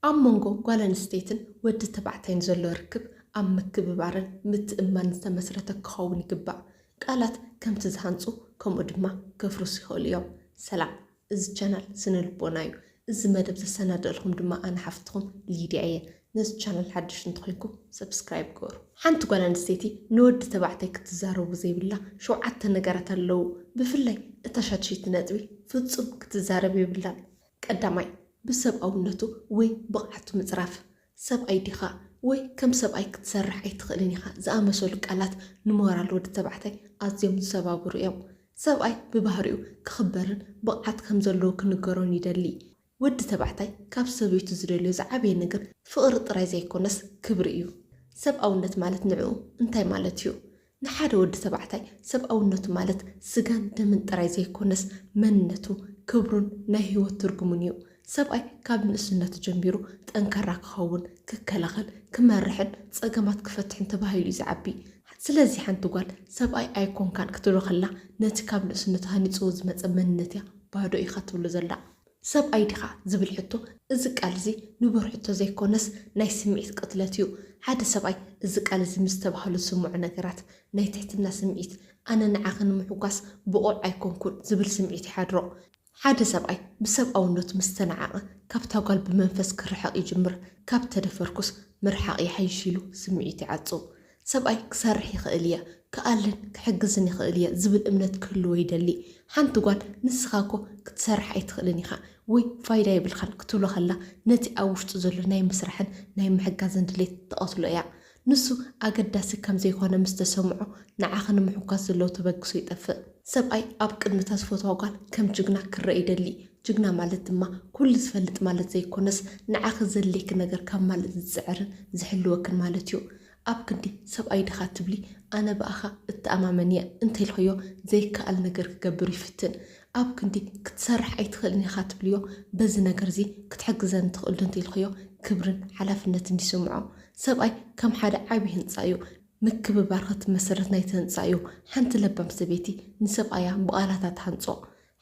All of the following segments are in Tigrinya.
ኣብ መንጎ ጓል ኣንስተይትን ወዲ ተባዕታይን ዘሎ ርክብ ኣብ ምክብባርን ምትእምማንን ዝተመስረተ ክኸውን ይግባእ። ቃላት ከምቲ ዝሃንጹ ከምኡ ድማ ከፍርሱ ይኽእሉ እዮም። ሰላም እዚ ቻናል ስነ ልቦና እዩ እዚ መደብ ዘሰናደእልኩም ድማ ኣነ ሓፍትኩም ሊድያ እየ ነዚ ቻናል ሓድሽ እንተኮይንኩም ሰብስክራይብ ግበሩ። ሓንቲ ጓል ኣንስተይቲ ንወዲ ተባዕታይ ክትዛረቡ ዘይብላ ሸውዓተ ነገራት ኣለዉ ብፍላይ እታ ሻድሸይቲ ነጥቢ ፍጹም ክትዛረብ የብላን ቀዳማይ ብሰብኣውነቱ ወይ ብቕዓቱ ምጽራፍ፣ ሰብኣይ ዲኻ ወይ ከም ሰብኣይ ክትሰርሕ ኣይትኽእልን ኢኻ ዝኣመሰሉ ቃላት ንሞራል ወዲ ተባዕታይ ኣዝዮም ዝሰባብሩ እዮም። ሰብኣይ ብባህሪኡ ክኽበርን ብቕዓት ከም ዘለዎ ክንገሮን ይደሊ። ወዲ ተባዕታይ ካብ ሰበይቱ ዝደልዮ ዝዓበየ ነገር ፍቕሪ ጥራይ ዘይኮነስ ክብሪ እዩ። ሰብኣውነት ማለት ንዕኡ እንታይ ማለት እዩ? ንሓደ ወዲ ተባዕታይ ሰብኣውነቱ ማለት ስጋን ደምን ጥራይ ዘይኮነስ መንነቱ፣ ክብሩን ናይ ህይወት ትርጉሙን እዩ። ሰብኣይ ካብ ንእስነቱ ጀሚሩ ጠንካራ ክኸውን፣ ክከላኸል፣ ክመርሕን ጸገማት ክፈትሕን ተባሂሉ እዩ ዝዓቢ። ስለዚ ሓንቲ ጓል ሰብኣይ ኣይኮንካን ክትብሎ ከላ ነቲ ካብ ንእስነቱ ሃኒጽዎ ዝመጸ መንነት እያ ባዶ ኢኻ ትብሎ ዘላ። ሰብኣይ ዲኻ? ዝብል ሕቶ፣ እዚ ቃል እዚ ንቡር ሕቶ ዘይኮነስ ናይ ስምዒት ቅትለት እዩ። ሓደ ሰብኣይ እዚ ቃል እዚ ምስ ተባህሉ ዝስምዖ ነገራት፣ ናይ ትሕትና ስምዒት፣ ኣነ ንዓኺ ንምሕጓስ ብቑዕ ኣይኮንኩን ዝብል ስምዒት ይሓድሮ። ሓደ ሰብኣይ ብሰብኣውነቱ ምስ ተናዓቐ፣ ካብታ ጓል ብመንፈስ ክርሕቕ ይጅምር፣ ካብ ተደፈርኩስ ምርሓቕ ይሓይሽ ኢሉ ስምዒቱ ይዓጹ። ሰብኣይ ክሰርሕ ይኽእል እየ፣ ክኣልን ክሕግዝን ይኽእል እየ ዝብል እምነት ክህልዎ ይደሊ። ሓንቲ ጓል ንስኻ እኮ ክትሰርሕ ኣይትኽእልን ኢኻ ወይ ፋይዳ የብልካን ክትብሎ ከላ ነቲ ኣብ ውሽጡ ዘሎ ናይ ምስራሕን ናይ ምሕጋዝን ድሌት ትቐትሎ እያ። ንሱ ኣገዳሲ ከም ዘይኮነ ምስ ተሰምዖ ንዓኺ ንምሕጓስ ዘለዎ ተበግሶ ይጠፍእ። ሰብኣይ ኣብ ቅድሚ እታ ዝፈትዋ ጓል ከም ጅግና ክረኣ ይደሊ። ጅግና ማለት ድማ ኩሉ ዝፈልጥ ማለት ዘይኮነስ ንዓኺ ዘድልየኪ ነገር ከማልእ ዝጽዕርን ዝሕልወክን ማለት እዩ። ኣብ ክንዲ ሰብኣይ ድኻ ትብሊ ኣነ ብኣኻ እተኣማመን እየ እንተ ኢልክዮ ዘይከኣል ነገር ክገብር ይፍትን። ኣብ ክንዲ ክትሰርሕ ኣይትኽእልን ኢኻ ትብልዮ በዚ ነገርዚ ክትሕግዘኒ ትኽእልዶ እንተ ኢልክዮ ክብርን ሓላፍነትን ይስምዖ። ሰብኣይ ከም ሓደ ዓቢ ህንጻ እዩ። ምክብባር ከትመሰርት ናይቲ ህንጻ እዩ። ሓንቲ ለባም ሰበይቲ ንሰብኣያ ብቓላታ ትሃንጾ።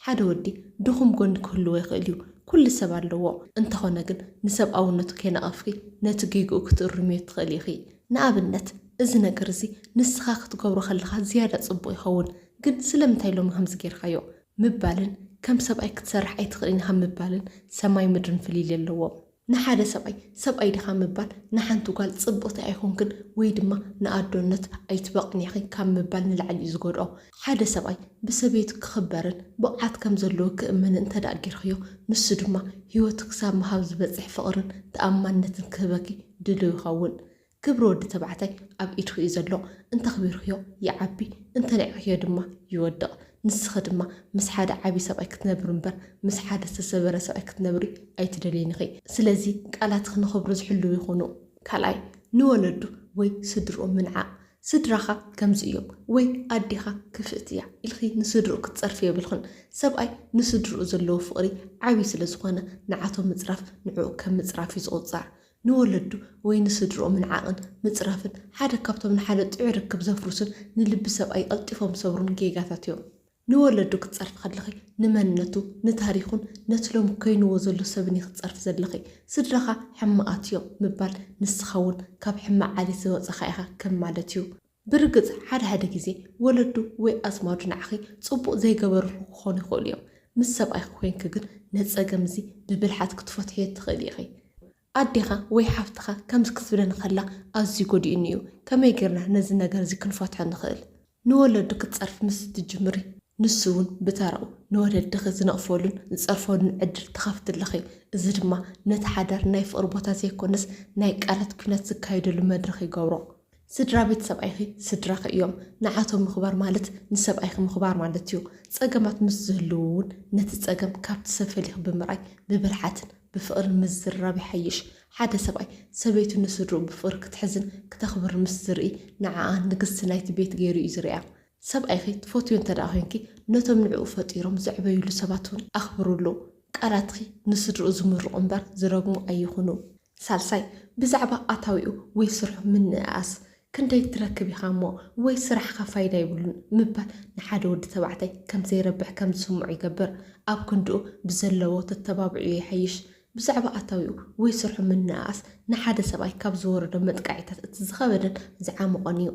ሓደ ወዲ ድኹም ጎኒ ክህልዎ ይኽእል እዩ፣ ኩሉ ሰብ ኣለዎ። እንተኾነ ግን ንሰብኣውነቱ ከይነቐፍኪ ነቲ ጌግኡ ክትእርምዮ ትኽእሊ ኢኺ። ንኣብነት፣ እዚ ነገር እዚ ንስኻ ክትገብሮ ከለኻ ዝያዳ ጽቡቕ ይኸውን፣ ግን ስለምንታይ ሎሚ ከምዚ ጌርካዮ? ምባልን ከም ሰብኣይ ክትሰርሕ ኣይትኽእልን ኢኻ ምባልን ሰማይ ምድርን ፍልልይ ኣለዎም። ንሓደ ሰብኣይ ሰብኣይ ድኻ ምባል ንሓንቲ ጓል ጽብቕቲ ኣይኮንክን ወይ ድማ ንኣዶነት ኣይትበቕዕን ኢኺ ካብ ምባል ንላዕሊ እዩ ዝጎድኦ። ሓደ ሰብኣይ ብሰበይቱ ክኽበርን ብቕዓት ከም ዘለዎ ክእመንን እንተድኣ ጌርክዮ ንሱ ድማ ህይወቱ ክሳብ ምሃብ ዝበጽሕ ፍቕርን ተኣማንነትን ክህበኪ ድሉው ይኸውን። ክብሪ ወዲ ተባዕታይ ኣብ ኢድኺ እዩ ዘሎ፣ እንተኽቢርኽዮ ይዓቢ እንተኒዕኽዮ ድማ ይወድቕ፣ ንስኺ ድማ ምስ ሓደ ዓቢ ሰብኣይ ክትነብሪ እምበር ምስ ሓደ ዝተሰበረ ሰብኣይ ክትነብሪ ኣይትደልይን ኢኺ፣ ስለዚ ቃላትኺ ንኽብሩ ዝሕልዉ ይኹኑ። ካልኣይ፣ ንወለዱ ወይ ስድርኡ ምንዓቕ፣ ስድራኻ ከምዚ እዮም ወይ ኣዴኻ ክፍእቲ እያ ኢልኺ ንስድርኡ ክትጸርፊ የብልኽን፣ ሰብኣይ ንስድርኡ ዘለዎ ፍቕሪ ዓቢ ስለ ዝኾነ ንዓቶም ምጽራፍ ንዕኡ ከም ምጽራፍ እዩ ዝቑጸር፣ ንወለዱ ወይ ንስድርኦምን ዓቕን ምጽራፍን ሓደ ካብቶም ንሓደ ጥዑይ ርክብ ዘፍርሱን ንልቢ ሰብኣይ ቀልጢፎም ዝሰብሩን ጌጋታት እዮም። ንወለዱ ክትጸርፊ ከለኺ ንመንነቱ፣ ንታሪኹን ነቲ ሎሚ ኮይንዎ ዘሎ ሰብን ኢኺ ትጸርፊ ዘለኺ። ስድራኻ ሕማቓት እዮም ምባል ንስኻ'ውን ካብ ሕማቕ ዓሌት ዝወጸኻ ኢኻ ከም ማለት እዩ። ብርግጽ ሓደ ሓደ ግዜ ወለዱ ወይ ኣዝማዱ ንዓኺ ጽቡቕ ዘይገበርልኹ ክኾኑ ይኽእሉ እዮም። ምስ ሰብኣይኪ ኮይንኪ ግን ነዚ ጸገም እዚ ብብልሓት ክትፈትሕዮ ትኽእሊ ኢኺ። ኣዴኻ ወይ ሓፍትኻ ከምዚ ክትብለኒ ከላ ኣዝዩ ጎዲኡኒ እዩ፣ ከመይ ጌርና ነዚ ነገር እዚ ክንፈትሖ ንኽእል? ንወለዱ ክትጸርፊ ምስ እትጅምሪ፣ ንሱ እውን ብተራኡ ንወለድኺ ዝነቕፈሉን ዝጸርፈሉን ዕድል ትኸፍቲ ኣለኺ። እዚ ድማ ነቲ ሓዳር ናይ ፍቕሪ ቦታ ዘይኮነስ ናይ ቃላት ኲናት ዝካየደሉ መድረኽ ይገብሮ። ስድራ ቤት ሰብኣይኺ ስድራኺ እዮም። ንዓቶም ምኽባር ማለት ንሰብኣይኺ ምኽባር ማለት እዩ። ጸገማት ምስ ዝህልዉ እውን ነቲ ጸገም ካብቲ ሰብ ፈሊኺ ብምርኣይ ብብልሓትን ብፍቕርን ምዝርራብ ይሓይሽ። ሓደ ሰብኣይ ሰበይቱ ንስድርኡ ብፍቕሪ ክትሕዝን ክተኽብርን ምስ ዝርኢ ንዓኣ ንግስቲ ናይቲ ቤት ገይሩ እዩ ዝርእያ። ሰብኣይኺ ትፈትውዮ እንተድኣ ኮይንኪ፣ ነቶም ንዕኡ ፈጢሮም ዘዕበዩሉ ሰባት እውን ኣኽብርሉ። ቃላትኺ ንስድርኡ ዝምርቑ እምበር ዝረግሙ ኣይኹኑ። ሳልሳይ፣ ብዛዕባ ኣታዊኡ ወይ ስርሑ ምንእኣስ። ክንደይ ትረክብ ኢኻ እሞ ወይ ስራሕኻ ፋይዳ የብሉን ምባል ንሓደ ወዲ ተባዕታይ ከም ዘይረብሕ ከም ዝስምዖ ይገብር። ኣብ ክንድኡ ብዘለዎ ተተባብዕዮ ይሓይሽ። ብዛዕባ ኣታዊኡ ወይ ስርሑ ምንእኣስ ንሓደ ሰብኣይ ካብ ዝወረዶ መጥቃዒታት እቲ ዝኸበደን ዝዓሞቖን እዩ።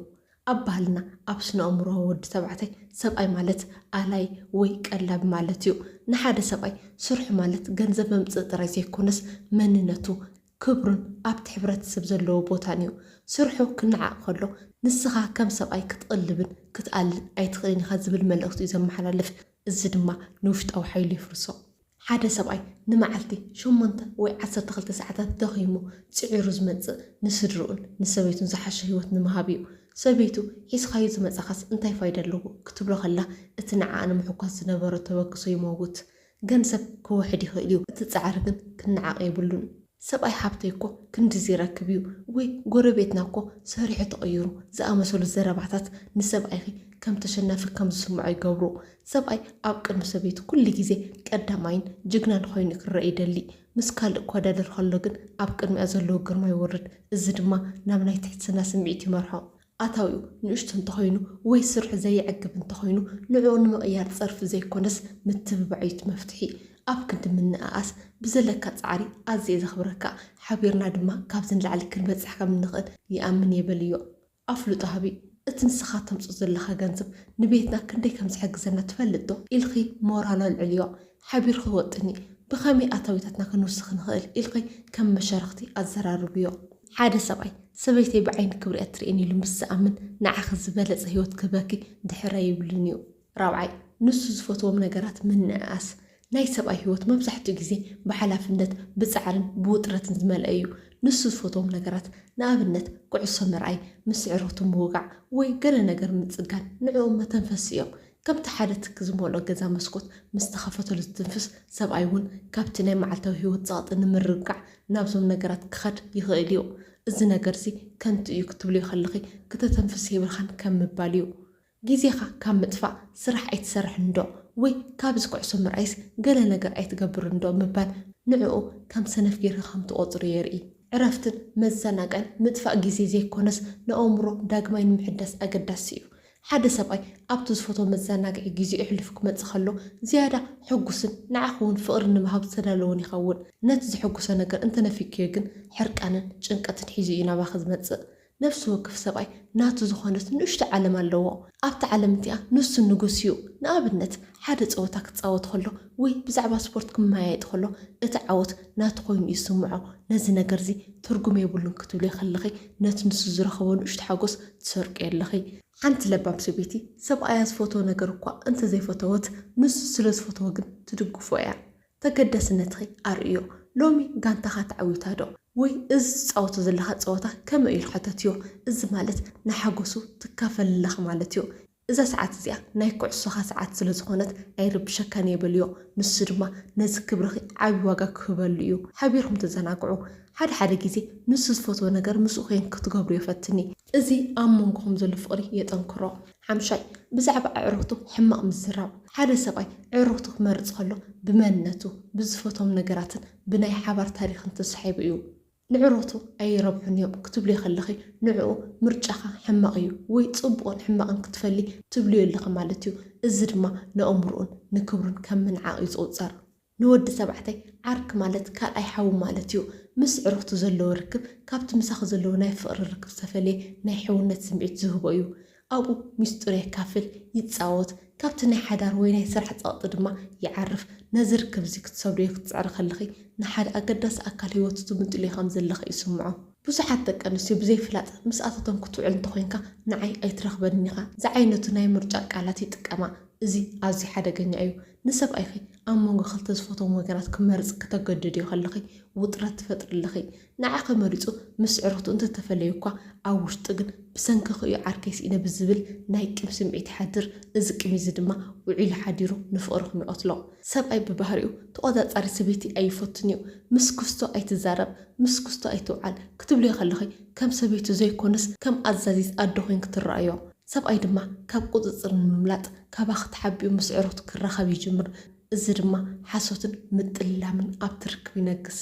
ኣብ ባህልና ኣብ ስነኣእምሮ ወዲ ተባዕታይ ሰብኣይ ማለት ኣላይ ወይ ቀላቢ ማለት እዩ። ንሓደ ሰብኣይ ስርሑ ማለት ገንዘብ መምጽኢ ጥራይ ዘይኮነስ መንነቱ፣ ክብሩን ኣብቲ ሕብረተሰብ ዘለዎ ቦታን እዩ። ስርሑ ክነዓቕ ከሎ ንስኻ ከም ሰብኣይ ክትቕልብን ክትኣልን ኣይትኽእልን ኢኻ ዝብል መልእኽቲ እዩ ዘመሓላልፍ። እዚ ድማ ንውሽጣዊ ሓይሉ የፍርሶ። ሓደ ሰብኣይ ንመዓልቲ ሸሞንተ ወይ ዓሰርተ ክልተ ሰዓታት ደኺሙ ጽዒሩ ዝመጽእ ንስድርኡን ንሰበይቱን ዝሓሸ ህይወት ንምሃብ እዩ። ሰበይቱ ሒዝካዮ ዝመጻኻስ እንታይ ፋይዳ ኣለዎ ክትብሎ ከላ እቲ ንዓኣ ንምሕኳስ ዝነበሮ ተበግሶ ይመውት። ገንዘብ ክውሕድ ይኽእል'ዩ፣ እቲ ጻዕሪ ግን ክነዓቕ የብሉን። ሰብኣይ ሓብተይ እኮ ክንድዚ ይረክብ እዩ ወይ ጎረቤትና እኮ ሰሪሑ ተቐይሩ ዝኣመሰሉ ዘረባታት ንሰብኣይኺ ከም ተሸናፊ ከም ዝስምዖ ይገብሩ። ሰብኣይ ኣብ ቅድሚ ሰበይቱ ኩሉ ግዜ ቀዳማይን ጅግናን ኾይኑ ክረኣ ይደሊ። ምስ ካልእ ክወዳደር ከሎ ግን ኣብ ቅድሚኣ ዘለዎ ግርማ ይወርድ፣ እዚ ድማ ናብ ናይ ትሕትና ስምዒት ይመርሖ። ኣታዊኡ ንእሽቶ እንተኾይኑ ወይ ስርሑ ዘየዕግብ እንተኾይኑ ንዕኡ ንምቕያር ጸርፊ ዘይኮነስ ምትብባዕዩ'ቲ መፍትሒ። ኣብ ክንዲ ምንእኣስ ብዘለካ ጻዕሪ ኣዝየ ዘኽብረካ፣ ሓቢርና ድማ ካብዚ ንላዕሊ ክንበጽሕ ከም እንኽእል ይኣምን'የ በልዮ። ኣፍልጦ ሃቢ፣ እቲ ንስኻ ተምጽኦ ዘለኻ ገንዘብ ንቤትና ክንደይ ከም ዝሕግዘና ትፈልጥ'ዶ? ኢልኪ ሞራሉ ኣልዕልዮ። ሓቢሩ ክወጥን እዩ። ብኸመይ ኣታዊታትና ክንውስኽ ንኽእል ኢልኺ ከም መሻርኽቲ ኣዘራርብዮ። ሓደ ሰብኣይ፣ ሰበይተይ ብዓይኒ ክብሪ ኣትርእየኒ ኢሉ ምስ ዝኣምን፣ ንዓኺ ዝበለጸ ህይወት ክህበኪ ድሕር ኣይብልን እዩ። ራብዓይ፣ ንሱ ዝፈትዎም ነገራት ምንእኣስ። ናይ ሰብኣይ ህይወት መብዛሕትኡ ግዜ ብሓላፍነት፣ ብጻዕርን ብውጥረትን ዝመልአ እዩ። ንሱ ዝፈትዎም ነገራት፣ ንኣብነት ኩዕሶ ምርኣይ፣ ምስ ኣዕሩኽቱ ምውጋዕ ወይ ገለ ነገር ምጽጋን ንዕኡ መተንፈሲኡ እዮም። ከምቲ ሓደ ትኪ ዝመልኦ ገዛ መስኮት ምስ ተኸፈተሉ ዝትንፍስ፣ ሰብኣይ እውን ካብቲ ናይ መዓልታዊ ህይወት ጸቕጢ ንምርግጋዕ ናብዞም ነገራት ክኸድ ይኽእል እዩ። እዚ ነገርዚ ከንቱ እዩ ክትብልዮ ከለኺ ክተተንፍስ የብልካን ከም ምባል እዩ። ግዜኻ ካብ ምጥፋእ ስራሕ ኣይትሰርሕንዶ ወይ ካብዚ ኩዕሶ ምርኣይስ ገለ ነገር ኣይትገብርንዶ ምባል ንዕኡ ከም ሰነፍ ጌርኪ ከም ትቖጽርዮ የርኢ። ዕረፍትን መዘናግዕን ምጥፋእ ግዜ ዘይኮነስ ንኣእምሮ ዳግማይ ንምሕዳስ ኣገዳሲ እዩ። ሓደ ሰብኣይ ኣብቲ ዝፈትዎ መዘናግዒ ግዜኡ ኣሕሊፉ ክመጽእ ከሎ ዝያዳ ሕጉስን ንዓኹ'ውን ፍቕሪ ንምሃብ ዝተዳለወን ይኸውን። ነቲ ዘሐጉሶ ነገር እንተ ነፊግክዮ ግን ሕርቃንን ጭንቀትን ሒዙ እዩ ናባኺ ዝመጽእ። ነፍሲ ወክፍ ሰብኣይ ናቱ ዝኾነት ንእሽቶ ዓለም ኣለዎ። ኣብታ ዓለም እቲኣ ንሱ ንጉስ እዩ። ንኣብነት ሓደ ጸወታ ክጻወት ከሎ ወይ ብዛዕባ ስፖርት ክመያየጥ ከሎ እቲ ዓወት ናቱ ኮይኑ እዩ ዝስምዖ። ነዚ ነገር'ዚ ትርጉም የብሉን ክትብልዮ ከለኺ ነቲ ንሱ ዝረኸቦ ንእሽቶ ሓጎስ ትሰርቂ ኣለኺ። ሓንቲ ለባም ሰበይቲ ሰብኣያ ዝፈትዎ ነገር እኳ እንተ ዘይፈተወት፣ ንሱ ስለ ዝፈትዎ ግን ትድግፎ እያ። ተገዳስነትኺ ኣርእዮ። ሎሚ ጋንታኻ ተዓዊታዶ? ወይ እዚ ትጻወቶ ዘለኻ ጸወታ ከመይ'ዩ? ሓተትዮ። እዚ ማለት ንሓጐሱ ትካፈሊ ኣለኺ ማለት'ዩ። እዛ ሰዓት እዚኣ ናይ ኩዕሶኻ ሰዓት ስለ ዝኾነት ኣይርብሸካን እየ በልዮ። ንሱ ድማ ነዚ ክብርኺ ዓቢ ዋጋ ክህበሉ እዩ። ሓቢርኩም ተዘናግዑ። ሓደ ሓደ ግዜ ንሱ ዝፈትዎ ነገር ምስኡ ኴንኪ ክትገብርዮ ፈትኒ። እዚ ኣብ መንጎኹም ዘሎ ፍቕሪ የጠንክሮ። ሓምሻይ፣ ብዛዕባ ኣዕሩኽቱ ሕማቕ ምዝራብ። ሓደ ሰብኣይ ኣዕሩኽቱ ክመርጽ ከሎ ብመንነቱ፣ ብዝፈትዎም ነገራትን ብናይ ሓባር ታሪኽን ተሳሒቡ እዩ። ንዕሮቱ ኣይረብሑን እዮም ክትብልዮ ከለኺ ንዕኡ ምርጫኻ ሕማቕ እዩ ወይ ጽቡቕን ሕማቕን ክትፈሊ ትብልዮ ኣለኺ ማለት እዩ። እዚ ድማ ንኣእምርኡን ንክብሩን ከም ምንዓቕ እዩ ዝቑጸር። ንወዲ ተባዕታይ ዓርኪ ማለት ካልኣይ ሓዉ ማለት እዩ። ምስ ዕሩኽቱ ዘለዎ ርክብ ካብቲ ምሳኺ ዘለዎ ናይ ፍቕሪ ርክብ ዝተፈልየ ናይ ሕውነት ስምዒት ዝህቦ እዩ። ኣብኡ ሚስጥሩ የካፍል፣ ይጻወት፣ ካብቲ ናይ ሓዳር ወይ ናይ ስራሕ ጸቕጢ ድማ ይዓርፍ። ነዚ ርክብ'ዚ ክትሰብርዮ ክትጽዕሪ ከለኺ፣ ንሓደ ኣገዳሲ ኣካል ህይወቱ ትምንጥልዮ ከም ዘለኺ ይስምዖ። ብዙሓት ደቀንስትዮ ብዘይፍላጥ ምስኣተቶም ክትውዕል እንተኾይንካ ንዓይ ኣይትረኽበንን ኢኻ ዝዓይነቱ ናይ ምርጫ ቃላት ይጥቀማ። እዚ ኣዝዩ ሓደገኛ እዩ። ንሰብኣይኺ ኣብ መንጎ ክልተ ዝፈትዎም ወገናት ክመርጽ ክተገድድዮ ከለኺ ውጥረት ትፈጥርለኺ። ንዓኺ መሪጹ ምስ ስዕርኽቱ እንተ ተፈለዩ'ኳ፣ ኣብ ውሽጡ ግን ብሰንክኺ'ዩ ዓርከይ ስኢነ ብዝብል ናይ ቂም ስምዒት ይሓድር። እዚ ቂም'ዚ ድማ ውዒሉ ሓዲሩ ንፍቕርኹም ይቐትሎ። ሰብኣይ ብባህሪኡ ተቖጻጻሪ ሰበይቲ ኣይፈቱን'ዩ። ምስ ክስቶ ኣይትዛረብ፣ ምስ ክስቶ ኣይትውዓል ክትብልዮ ከለኺ ከም ሰበይቱ ዘይኮነስ ከም ኣዛዚት ኣደ ኮይንኪ ትረኣዮ። ሰብኣይ ድማ ካብ ቁጽጽር ንምምላጥ ካባኺ ተሓቢኡ ምስ ኣዕሩኽቱ ክራኸብ ይጅምር፣ እዚ ድማ ሓሶትን ምጥልላምን ኣብቲ ርክብ ይነግስ።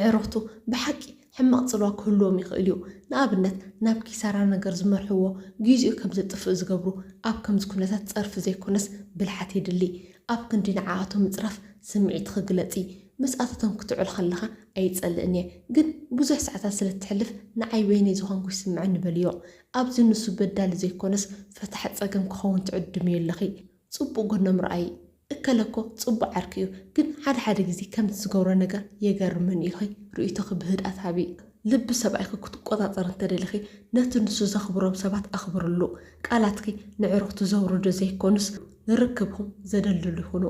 ኣዕሩኽቱ ብሓቂ ሕማቕ ጽልዋ ክህልዎም ይኽእል እዩ፣ ንኣብነት ናብ ኪሳራ ነገር ዝመርሕዎ፣ ግዜኡ ከም ዘጥፍእ ዝገብሩ፣ ኣብ ከምዚ ኩነታት ጸርፊ ዘይኮነስ ብልሓት የድሊ፣ ኣብ ክንዲ ንዓኣቶም ምጽራፍ ስምዒትኺ ግለጺ፣ ምስኣታቶም ክትውዕል ከለኻ ኣይጸልእን እየ፣ ግን ብዙሕ ሰዓታት ስለ እተሕልፍ ንዓይ በይነይ ዝኾንኩ ይስምዓኒ በልዮ፣ ኣብዚ ንሱ በዳሊ ዘይኮነስ ፈታሒ ጸገም ክኸውን ትዕድምዮ ኣለኺ ጽቡቅ ጎኖም ርኣዪ እከለ እኮ ጽቡቅ ዓርኪ እዩ ግን ሓደ ሓደ ግዜ ከምቲ ዝገብሮ ነገር የገርመኒ ኢልኺ ርእይቶኺ ብህድኣት ሃቢ ልቢ ሰብኣይኪ ክትቆጻጸሪ እንተደሊኺ ነቲ ንሱ ዘኽብሮም ሰባት ኣኽብርሉ ቃላትኪ ነዕሩኽቱ ዘውርዱ ዘይኮኑስ ንርክብኹም ዘደልድሉ ይኹኑ።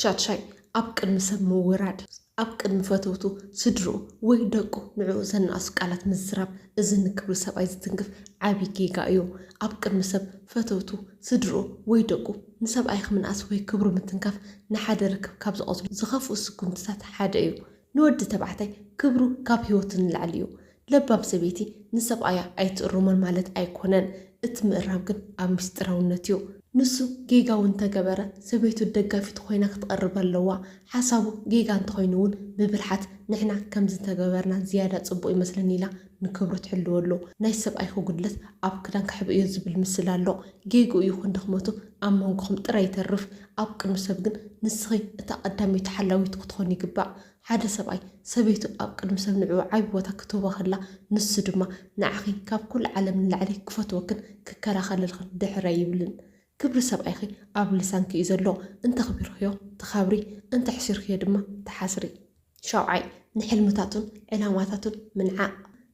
ሻድሻይ ኣብ ቅድሚ ሰብ ምውራድ። ኣብ ቅድሚ ፈተውቱ፣ ስድርኡ ወይ ደቁ ንዕኡ ዘናእሱ ቃላት ምዝራብ እዚ ንክብሪ ሰብኣይ ዝትንክፍ ዓቢ ጌጋ እዩ። ኣብ ቅድሚ ሰብ፣ ፈተውቱ፣ ስድርኡ ወይ ደቁ ንሰብኣይኽ ምንኣስ ወይ ክብሩ ምትንካፍ ንሓደ ርክብ ካብ ዝቐትሉ ዝኸፍኡ ስጉምትታት ሓደ እዩ። ንወዲ ተባዕታይ ክብሩ ካብ ህይወቱ ንላዕሊ እዩ። ለባም ሰበይቲ ንሰብኣያ ኣይትእርሞን ማለት ኣይኮነን፣ እቲ ምእራም ግን ኣብ ምስጢራውነት እዩ። ንሱ ጌጋ እውን እንተገበረ ሰበይቱ ደጋፊቱ ኮይና ክትቐርብ ኣለዋ፣ ሓሳቡ ጌጋ እንተኾይኑ እውን ብብልሓት ንሕና ከምዚ እንተገበርና ዝያዳ ጽቡቕ ይመስለኒ ኢላ ንክብሩ ትሕልወሉ። ናይ ሰብኣይኪ ጉድለት ኣብ ክዳን ከሕብእዮ ዝብል ምስላ ኣሎ፣ ጌግኡ ይኹን ድኽመቱ ኣብ መንጎኹም ጥራይ ይተርፍ፣ ኣብ ቅድሚ ሰብ ግን ንስኺ እታ ቀዳመይቲ ሓላዊት ክትኾኒ ይግባእ። ሓደ ሰብኣይ፣ ሰበይቱ ኣብ ቅድሚ ሰብ ንዕኡ ዓቢ ቦታ ክትህቦ ከላ፣ ንሱ ድማ ንዓኺ ካብ ኵሉ ዓለም ንላዕሊ ክፈትወክን ክከላኸለልክን ድሕር ኣይብልን። ክብሪ ሰብኣይኪ ኣብ ልሳንኪ እዩ ዘሎ፣ እንተኽቢርክዮ ትኸብሪ፣ እንተሕሲርክዮ ድማ ትሓስሪ። ሻውዓይ፣ ንሕልምታቱን ዕላማታቱን ምንዓቕ።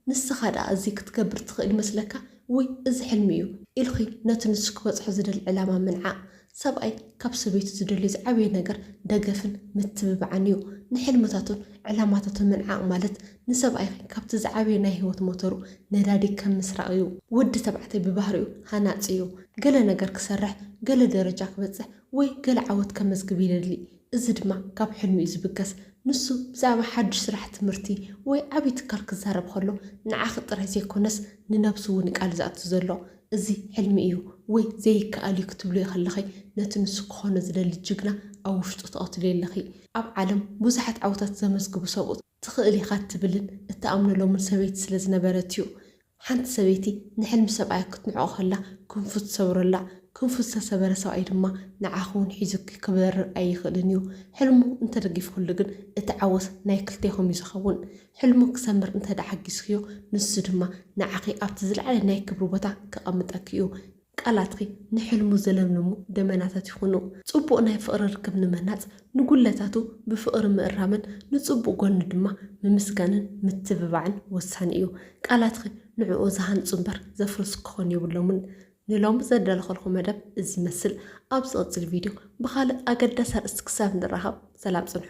ንስኻ ደኣ እዚ ክትገብር ትኽእል ይመስለካ? ውይ እዚ ሕልሚ እዩ ኢልኺ ነቲ ንሱ ክበጽሖ ዝደሊ ዕላማ ምንዓቕ። ሰብኣይ ካብ ሰበይቱ ዝደልዮ ዝዓበየ ነገር ደገፍን ምትብባዕን እዩ። ንሕልምታቱን ዕላማታቱን ምንዓቕ ማለት ንሰብኣይኺ ካብቲ ዝዓበየ ናይ ህይወት ሞተሩ፣ ነዳዲ፣ ከም ምስራቕ እዩ። ወዲ ተባዕታይ ብባህሪኡ ሃናጺ እዩ። ገለ ነገር ክሰርሕ፣ ገለ ደረጃ ክበጽሕ ወይ ገለ ዓወት ከመዝግብ ይደሊ። እዚ ድማ ካብ ሕልሚ'ዩ ዝብገስ። ንሱ ብዛዕባ ሓድሽ ስራሕ፣ ትምህርቲ ወይ ዓቢ ትካል ክዛረብ ከሎ ንዓኺ ጥራይ ዘይኮነስ ንነብሱ'ውን'ዩ ቃል ዘእቱ ዘሎ። እዚ ሕልሚ እዩ ወይ ዘይከኣል እዩ ክትብልዮ ከለኺ ነቲ ንሱ ክኾኖ ዝደሊ ጅግና ኣብ ውሽጡ ትቐትልዮ ኣለኺ። ኣብ ዓለም ብዙሓት ዓወታት ዘመዝግቡ ሰብኡት። ትኽእል ኢኻ እትብልን እትኣምነሎምን ሰበይቲ ስለ ዝነበረት እዩ። ሓንቲ ሰበይቲ ንሕልሚ ሰብኣያ ክትንዕቆ ከላ ክንፉ ትሰብረላ። ክንፉ ዝተሰበረ ሰብኣይ ድማ ንዓኺ እውን ሒዙኪ ክበርር ኣይኽእልን እዩ። ሕልሙ እንተደጊፍክሉ ግን እቲ ዓወት ናይ ክልቴኹም እዩ ዝኸውን። ሕልሙ ክሰምር እንተድኣ ሓጊዝክዮ ንሱ ድማ ንዓኺ ኣብቲ ዝለዓለ ናይ ክብሪ ቦታ ከቐምጠኪ እዩ። ቃላትኪ ንሕልሙ ዝለምልሙ ደመናታት ይኹኑ። ጽቡቕ ናይ ፍቕሪ ርክብ ንምህናጽ፣ ንጉድለታቱ ብፍቕሪ ምእራምን ንጽቡቕ ጎኑ ድማ ምምስጋንን ምትብባዕን ወሳኒ እዩ። ቃላትኪ ንዕኡ ዝሃንጹ እምበር ዘፍርሱ ክኾኑ የብሎምን። ንሎሚ ዘዳለኹልኩም መደብ እዚ ይመስል። ኣብ ዝቕጽል ቪድዮ ብኻልእ ኣገዳሲ ኣርእስቲ ክሳብ ንራኸብ ሰላም ጽንሑ።